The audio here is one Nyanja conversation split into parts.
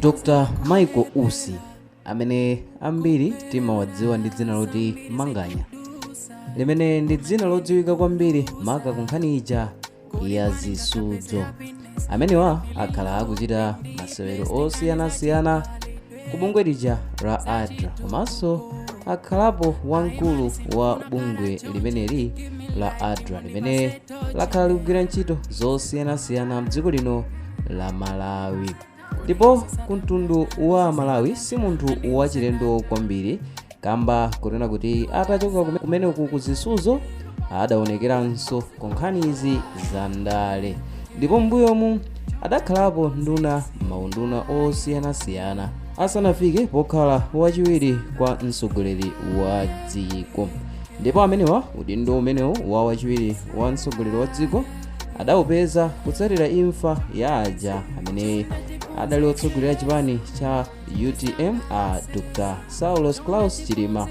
Dr. Michael Usi amene ambiri timawadziwa ndi dzina loti Manganya limene ndi dzina lodziwika kwambiri maka kunkhani ija ya zisudzo amenewa akhala akuchita masewero osiyanasiyana ku bungwe lija la adra komanso akhalapo wamkulu wa bungwe limeneli la adra limene lakhala likugwira ntchito zosiyanasiyana mdziko lino la malawi ndipo ku mtundu wa malawi si munthu wachilendo kwambiri kamba kunena kuti atachoka kume- kumeneku ku zisudzo adaonekeranso ku nkhanizi za ndale ndipo mbuyomu adakhalapo nduna maunduna osiyanasiyana asanafike pokhala wachiwiri kwa mtsogoleri wa dziko ndipo amenewa udindo umenewu wa wachiwiri wa mtsogoleri wa dziko adawupeza kutsatira imfa ya aja amene adali otsogolera chipani cha utm a dr saulos klaus chilima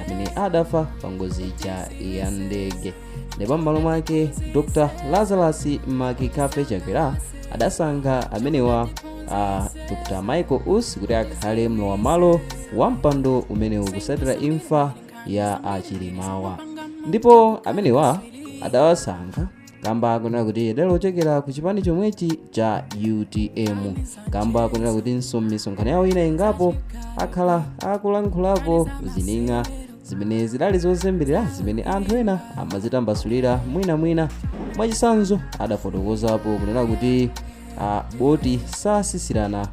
amene adafa pa ngozi ija ya ndege ndipo m'malo mwake dr lazarus mccarthy chakwera adasankha amenewa a dr michael usi kuti akhale mlowam'malo wa mpando umenewu kutsatira imfa ya achilimawa ndipo amenewa adawasankha kamba kunena kuti adali ochokera ku chipani chomwechi cha utm kamba kunena kutinso m'misonkhano yawo ina ingapo akhala akulankhulapo zining'a zimene zidali zozembelera zimene anthu ena amazitambasulira mwinamwina mwachitsanzo adafotokozapo kunena kuti a boti satsitsirana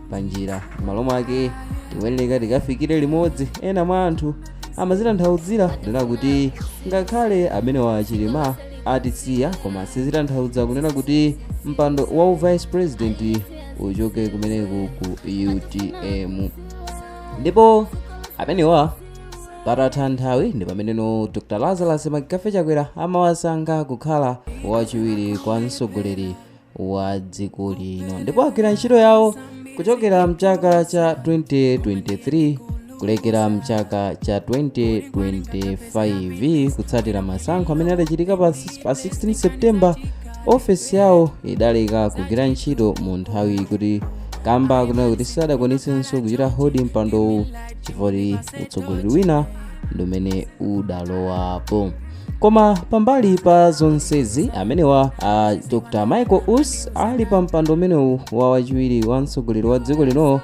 pa njira m'malo mwake tikuyeneka tikafikire limodzi ena mwa anthu amazitanthauzira kunena kuti ngakhale amenewa a chilima atisiya koma sizitanthauza kunena kuti mpando wa u vice president uchoke kumeneku ku utm ndipo amenewa patatha nthawi ndi pameneno dr lazarus mccarthy chakwera amawasankha kukhala wachiwiri kwa mtsogoleri wa dziko lino ndipo agwira ntchito yawo kuchokera mchaka cha 2023 kulekera mchaka cha 2025 kutsatira masankho amene adachitika pa s- pa 16 september ofesi yawo idaleka kugwira ntchito mu nthawi kuti kamba kunena kuti sadakwanitsenso kuchita hodi mpandowu chifukwa utsogoleri wina ndi umene udalowapo Koma pambali pa zonsezi amenewa uh, Dr. Michael Usi ali pa mpando umenewu wa wachiwiri wa mtsogoleri wa dziko lino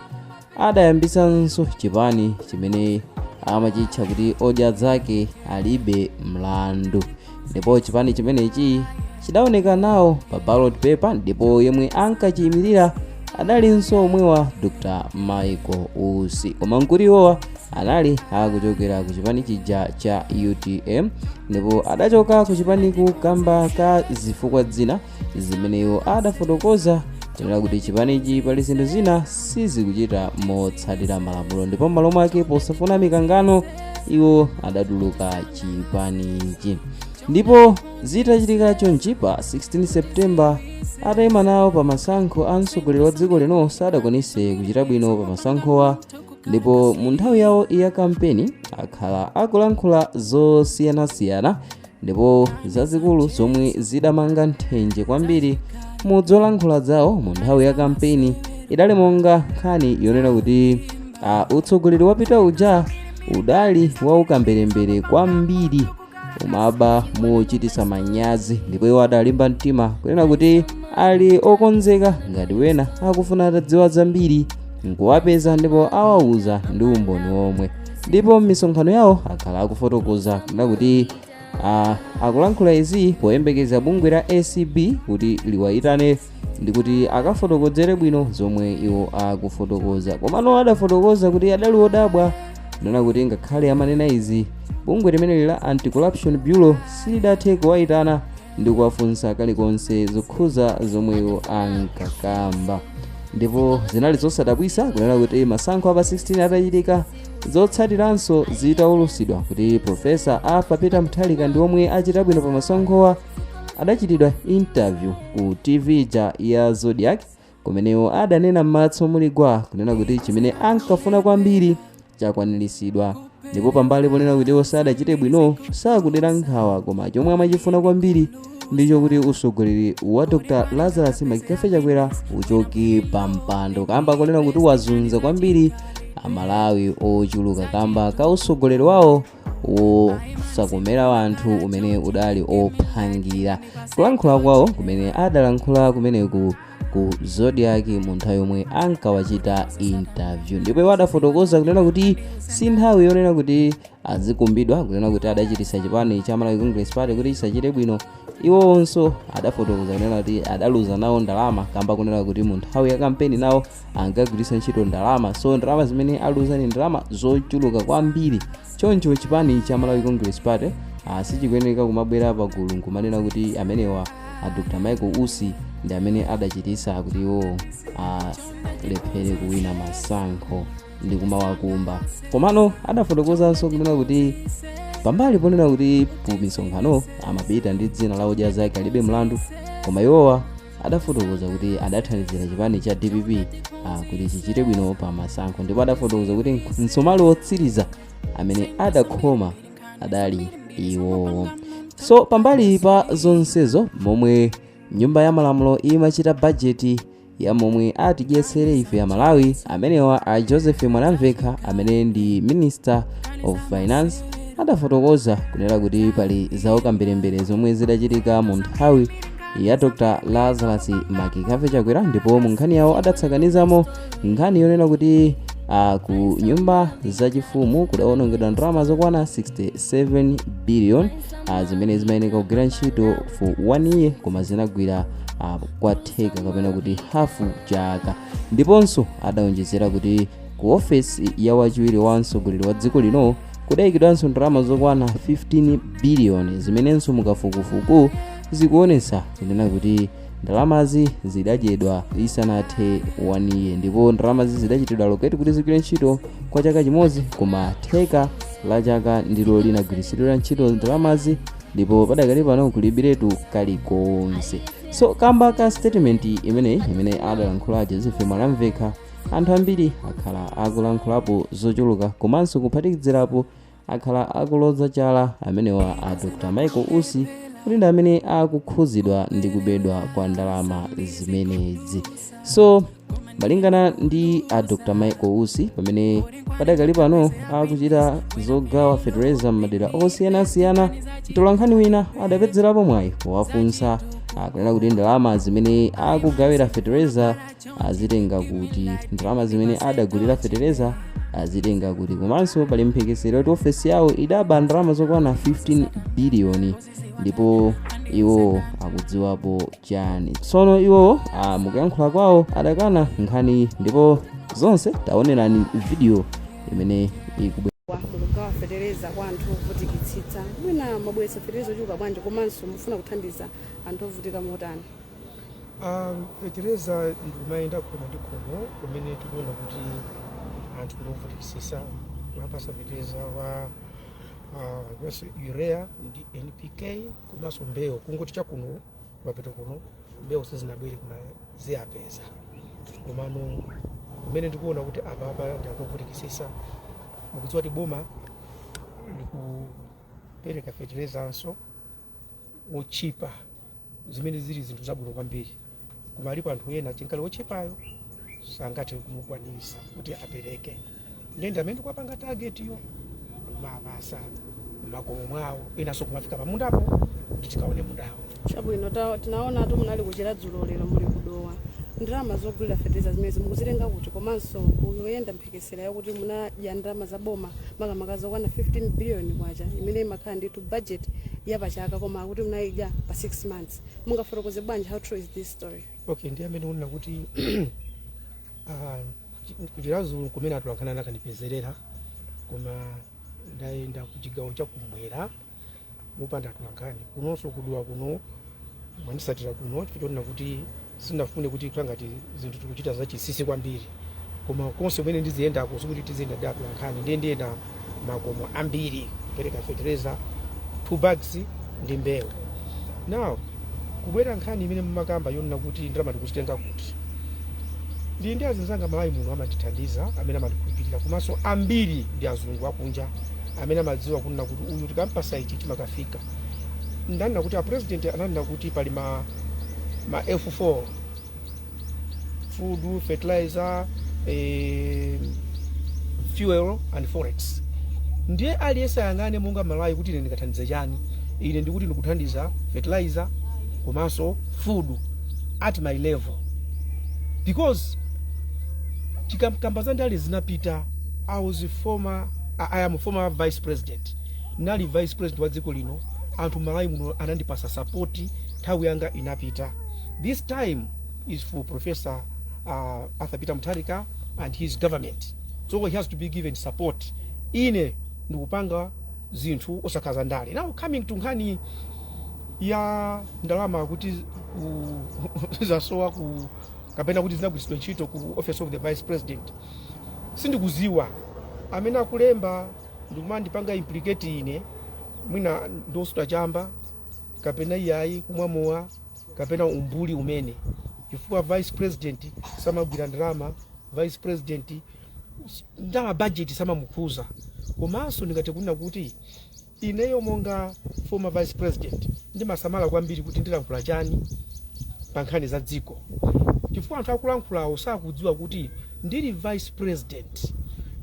adayambitsanso chipani chimene amachitcha kuti odya zake alibe mlandu ndipo chipani chimenechi chidaoneka nawo pa ballot paper ndipo yemwe ankachiyimirira adalinso omwewa Dr. Michael Usi koma mkuluwowa anali akuchokera ku chipani chija cha utm ndipo adachoka ku chipaniku kamba ka zifukwa zina zimene iwo adafotokoza kunena kuti chipanichi pali zinthu zina sizikuchita motsatira malamulo ndipo m'malo mwake posafuna mikangano iwo adatuluka chipanichi ndipo zitachitika chonchi pa 16 september atayima nawo pa masankho a mtsogoleri wa dziko lino sadakwanise kuchita bwino pa masankhowa ndipo mu nthawi yawo ya kampeni akhala akulankhula zosiyanasiyana ndipo zazikulu zomwe zidamanga nthenje kwambiri mu zolankhula zawo mu nthawi ya kampeni idali monga nkhani yonena kuti uh, utsogoleri wapita uja udali waukamberembere kwambiri umaba mochititsa manyazi ndipo iwo adalimba mtima kunena kuti ali okonzeka ngati wina akufuna atadziwa zambiri nkuwapeza ndipo awauza ndi umboni womwe ndipo m'misonkhano yawo akhala akufotokoza kunena kuti ah, akulankhula izi poyembekeza bungwe la acb kuti liwayitane ndikuti akafotokozere bwino zomwe iwo akufotokoza komano adafotokoza kuti adali odabwa kunena kuti ngakhale amanena izi bungwe limeneli la anti-corruption bureau silidathe kuwayitana ndi kuwafunsa kalikonse zokhuza zomwe iwo ankakamba ndipo zinali zosadabwisa kunena kuti masankho a pa 16 atachitika zotsatiranso zitaulusidwa kuti profesa arthur peter mutharika ndi omwe achita bwino pa masankhowa adachitidwa interview ku tv ija ya zodiak kumenewo adanena m'matso muli gwa kunena kuti chimene ankafuna kwambiri chakwaniritsidwa ndipo pambali ponena kuti iwo sadachite bwino sakudera nkhawa koma chomwe amachifuna kwambiri ndicho kuti usogoleri wa dr lazarus mccarthy chakwera uchoke pa mpando kamba konena kuti wazunza kwambiri amalawi ochuluka kamba ka usogoleri wawo wosakomera wanthu umene udali ophangira kulankhula kwawo kumene adalankhula kumene ku zodiak mu nthawi yomwe ankawachita interview ndipo iwo adafotokoza kunena kuti si nthawi yonena kuti azikumbidwa kunena kuti adachitisa chipani cha malawi congress party kuti chisachite bwino iwonso adafotokoza kunena kuti adaluza nawo ndalama kamba kunena kuti mu nthawi ya kampeni nawo ankagwiritsa ntchito ndalama so ndalama zimene aluza ndi ndalama zochuluka kwambiri choncho chipani cha malawi congress party ah, sichikuyeneka kumabwera pagulu nkumanena kuti amenewa a dr michael usi ndi amene adachititsa kuti iwo alephere kuwina masankho ndi kumawakumba komano adafotokozanso kunena kuti pambali ponena kuti ku misonkhano amapita ndi dzina la odya zake alibe mlandu koma iwowa adafotokoza kuti adathandizira chipani cha dpp ah, kuti chichite bwino pa masankho ndipo adafotokoza kuti msomali wotsiriza amene adakhoma adali iwowo so pambali pa zonsezo momwe nyumba ya malamulo imachita bajeti ya momwe atidyetsere ife aMalawi amenewa a joseph mwanamvekha amene ndi minister of finance adafotokoza kunena kuti pali zawo kambirembere zomwe zidachitika mu nthawi ya dr lazarus mccarthy chakwera ndipo mu nkhani yawo adatsakanizamo nkhani yonena kuti uh, ku nyumba zachifumu kudawonongedwa ndalama zokwana 67 billion uh, zimene zimayeneka kugwira ntchito for one year koma zinagwira uh, kwa theka kapena kuti hafu chaka ndiponso adaonjezera kuti ku ofesi ya wachiwiri wa mtsogoleri wa dziko lino kudayikidwanso ndalama zokwana 15 billion zimenenso mukafukufuku zikuonetsa kunena kuti ndalamazi zidadyedwa isanathe 1 year ndipo ndalamazi zidachitidwa allocate kuti zigwire ntchito kwa chaka chimodzi koma theka la chaka ndilo linagwiritsidwira ntchito ndalamazi ndipo padakali pano kulibiretu kalikonse so kamba ka statement imeneyi imene adalankhula a joseph mwanamvekha anthu ambiri akhala akulankhulapo zochuluka komanso kuphatikizirapo akhala akuloza chala amenewa a dr michael usi kuti ndi amene akukhudzidwa ndi kubedwa kwa ndalama zimenezi so malingana ndi a dr michael usi pamene padakali pano akuchita zogawa fetereza m'madera osiyanasiyana mtolankhani wina adapezerapo mwayi powafunsa kunena kuti ndalama zimene akugawira fetereza azitenga kuti ndalama zimene adagulira fetereza azitenga kuti komanso pali mphekesera kuti ofesi yawo idaba ndalama zokwana 15 biliyoni ndipo iwo akudziwapo chani tsono iwo ah, mukuyankhula kwawo adakana nkhaniyi ndipo zonse taonerani vidiyo imene ikubwera mukugawa fetereza kwa anthu ovutikitsitsa mwina mwabweretsa fetereza ochuluka bwanji komanso mufuna kuthandiza anthu ovutika motani Um, fetereza ndikumayenda khomo ndi khomo kumene tikuona kuti anthu ndi ovutikisisa kumapasa fetereza wa ah, komanso urea ndi npk komanso mbewu kungoti chakuno mapeto kuno mbewu sizinabwere koma ziwapeza komano kumene tikuona kuti apapa ndi ovutikisisa mukudziwa kuti boma likupereka feterezanso otchipa zimene zili zinthu zabwino kwambiri koma alipo anthu ena chinkali otchipayo sangathe kumukwanisa kuti apereke ndiye ndi amene ndikuwapanga tagetiwo kumapasa makomo mwawo inenso kumafika pamundapo kuti tikaone mundawo chabwino ta- tinaonatu munali ku Chiradzulu lero muli ku Dowa ndalama zogulira fetereza zimene mukuzitenga kuti komanso kuyenda mphe- mphekesera yakuti munadya ndalama za boma makamaka zokwana 15 biliyoni kwacha imene imakhala ndithu budget ya pachaka koma akuti munayidya pa 6 months mungafotokoze bwanji how true is this story okay ndiyambe ndi kunena kuti ah, chi- ku Chiradzulu kumene atolankhani anakandipezerera koma ndayenda ku chigawo chakumwera mopanda atolankhani kunonso ku Dowa kuno mwandisatira kuno chifukwa choti sindinafune kuti kukhale ngati zinthu tikuchita zachisisi kwambiri koma konse kumene ndiziyendako sikuti tiziyenda ndi atolankhani ndiye ndayenda makomo ambiri kupereka fetereza two bags ndi mbewu now kubwera nkhani imene mumakamba yonena kuti ndalama ndikuzitenga kuti. Ndili ndi azinzanga Malawi muno amandithandiza amene amandikhulupirira komanso ambiri ndi azungu akunja amene amadziwa kunena kuti uyu tikampasa ichi chimakafika. Ndanena kuti a president ananena kuti pali ma, ma F4 food, fertilizer, eh, fuel and forex ndiye aliyense ayang'ane monga Mmalawi kuti ine ndikathandize chani ine ndikuti ndikuthandiza fertilizer komanso food at my level because tikamakamba za ndale zinapita i was a former I, i am a former vice president nali vice president wa dziko lino anthu Malawi muno anandipasa sapoti nthawi yanga inapita This time is for Professor uh, Arthur Peter Mutharika and his government. So he has to be given support. Ine ndikupanga zinthu osati za ndale. Now coming to nkhani ya ndalama kuti ku- zasowa ku kapena kuti zinagwiritsidwa ntchito ku office of the vice president sindikuziwa amene akulemba ndi kumandipanga implicate ine mwina ndi osuta chamba kapena iyayi kumwa mowa kapena umbuli umene chifukwa vice president samagwira ndalama vice president s- ndalama budget samamukhuza komanso ndingathe kunena kuti ineyo monga former vice president ndimasamala kwambiri kuti ndilankhula chani pa nkhani za dziko chifukwa anthu akulankhulawo sakudziwa kuti ndili vice president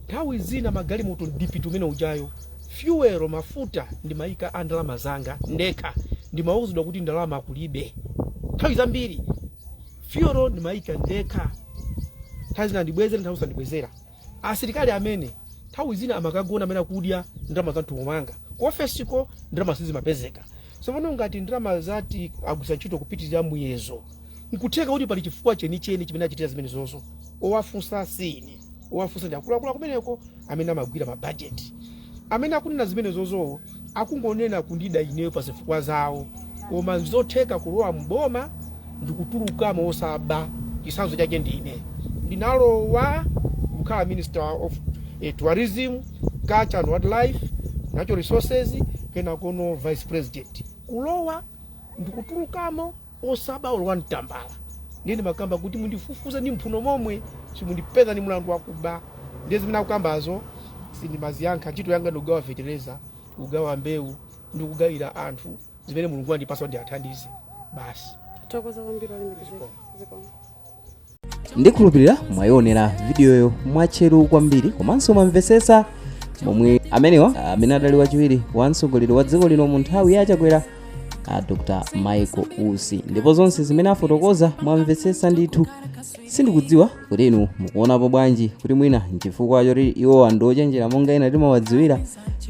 nthawi zina magalimoto ndipite umene ujayo fuel mafuta ndimaika a ndalama zanga ndekha ndimauzidwa kuti ndalama kulibe nthawi zambiri fuel ndimaika ndekha nthawi zina andibwezera nthawi zina sandibwezera asilikali amene nthawi zina amakagona amakadya ndalama za mthumba mwanga ku ofesiko ndalama sizimapezeka tsopano ngati ndalama zati agwiritsa ntchito kupitirira muyezo nkutheka kuti pali chifukwa chenicheni chimene achitira zimenezozo owafunsa si ine owafunsa ndi akuluakulu akumeneko amene amagwira mabajeti amene akunena zimenezozo akungonena kundida ineyo pa zifukwa zawo koma ndizotheka kulowa mboma ndikutulukamo osaba chisanzo chake ndi ine ndinalowa kukhala minister of eh, tourism culture and wildlife natural resources kenakono vice president kulowa ndikutulukamo osaba olo wani tambala ndiye ndimakamba kuti mundifufuze ndi mphuno momwe simundipeza ndi mulandu wakuba ndiye zimene akukambazo sindimaziyankha ntchito yanga ndikugawa fetereza kugawa mbewu ndi kugawira anthu zimene mulungu wandipasa kuti ndiathandize basi Tathokoza kwambiri olemekezeka. Zikomo. ndikhulupirira mwayionera vidiyoyo mwatcheru kwambiri komanso mwamvesesa momwe amenewa amene adali wachiwiri wa mtsogoleri wa dziko lino mu nthawi ya a chakwera a dr michael usi ndipo zonse zimene afotokoza mwamvesesa ndithu sindikudziwa kuti inu mukuonapo bwanji kuti mwina nchifukwa choti iwowa ndi ochenjera monga ena timawadziwira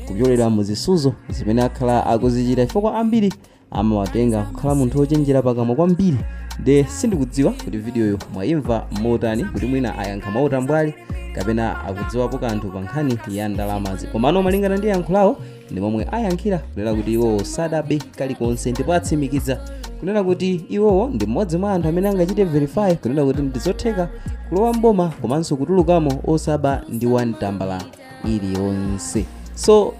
kupyolera mu zisuzo zimene akhala akuzichita chifukwa ambiri amawatenga kukhala munthu wochenjera pakamwa kwambiri nde sindikudziwa kuti vidiyoyo mwayimva motani kuti mwina ayankha mwautambwali kapena akudziwapo kanthu pa nkhani ya ndalamazi komano malingana ndi yankho lawo ndi momwe ayankhira kunena kuti iwowo sadabe kalikonse ndipo atsimikiza kunena kuti iwowo ndi mmodzi mwa anthu amene angachite verify kunena kuti ndizotheka kulowa mboma komanso kutulukamo osaba ndi wani tambala iliyonse so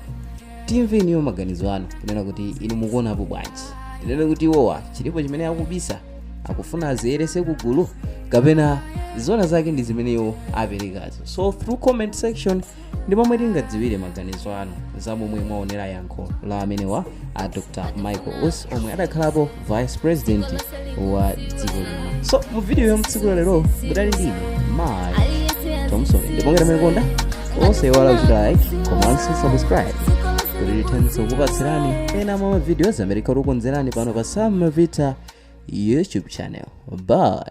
timve inuyo maganizo anu kunena kuti inu mukuonapo bwanji tinene kuti iwowa chilipo chimene akubisa akufuna aziyerese kugulu kapena zona zake ndi zimene iwo aperekazo so through comment section ndi pomwe tingadziwire maganizo anu za momwe mwaonera yankho la amenewa a dr michael usi omwe adakhalapo vice president wa dziko lino so mu video ya mtsiku la lero mudali ndine Mike Thompson ndipo ngati mwakonda osaiwala kuchita like komanso subscribe kuti tithandize kukupatsirani ena mwa ma videos amene tikukonzerani pano pa sam mavita youtube channel bye